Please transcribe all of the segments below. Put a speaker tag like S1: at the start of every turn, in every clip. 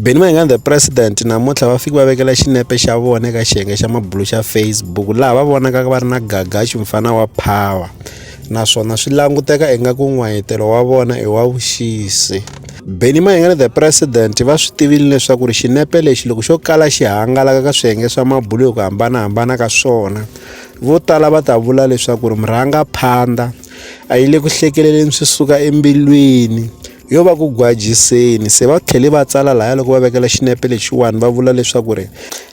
S1: Benny Mayengani the president namuntlha va fike va vekela xinepe xa vona eka xiyenge xa mabulu xa Facebook laha va vonaka va ri na gagaxi mfana wa power naswona swi languteka ingaku n'wayitelo wa vona i wa vuxisi Benny Mayengani the president va swi tivile leswaku ri xinepe lexi loko xo kala xi hangalaka ka swiyenge swa mabulu hi ku hambanahambana ka swona vo tala va ta vula leswaku ri murhanga phanda a yi le ku hlekeleleni swi suka embilwini Yo va ku gwajiseni se va tlhele va tsala laya loko va vekela xinepe lexiwani va vula leswaku ri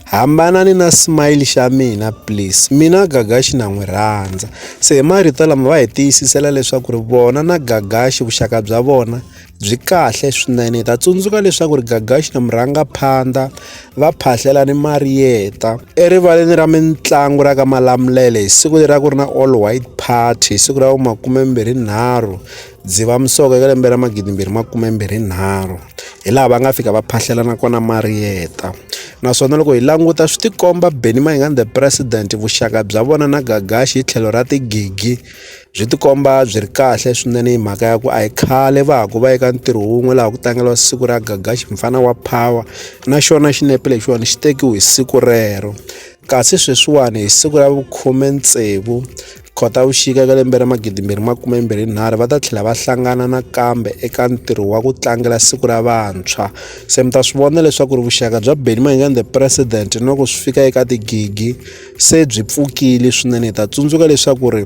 S1: hambanani na smile xa mina please mina gagaxi na n'wi rhandza se hi marito lama va hi tiyisisela leswaku ri vona na gagaxi vuxaka bya vona byi kahle swinene hi ta tsundzuka leswaku ri gagaxi na murhangaphandha va phahlela ni mariyeta erivaleni ra mitlangu ra ka malamulele hi siku leri a ku ri na all white party hi siku ra vu makume mbirhi nharhu Dzivamisoko eka lembe ra 2023 hi laha va nga fika va phahlelana kona Marietta naswona loko hi languta swi tikomba Benny Mayengani the President vuxaka bya vona na Gagashi hi tlhelo ra tigigi byi tikomba byi ri kahle swinene hi mhaka ya ku a hi khale va ha ku va eka ntirho wun'we laha ku tlangeriwa siku ra Gagashi mfana wa power na xona xinepe lexiwani xi tekiwe hi siku rero. Kasi sweswiwani hi siku ra vukhume tsevu Khotavuxika eka lembe ra magidi mbirhi makume mbirhi nharhu va ta tlhela va hlangana nakambe eka ntirho wa ku tlangela siku ra vantshwa se mi ta swi vona leswaku ri vuxaka bya Benny Mayengani the president loko swi fika eka tigigi se byi pfukile swinene hi ta tsundzuka leswaku ri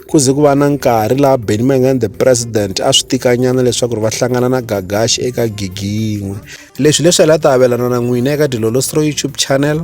S1: ku ze ku va na nkarhi laha Benny Mayengani the president a swi tikanyana leswaku ri va hlangana na Gagashi eka gigi yin'we leswi leswi hi la ta avelana na n'wina eka Dilolo's Throw YouTube channel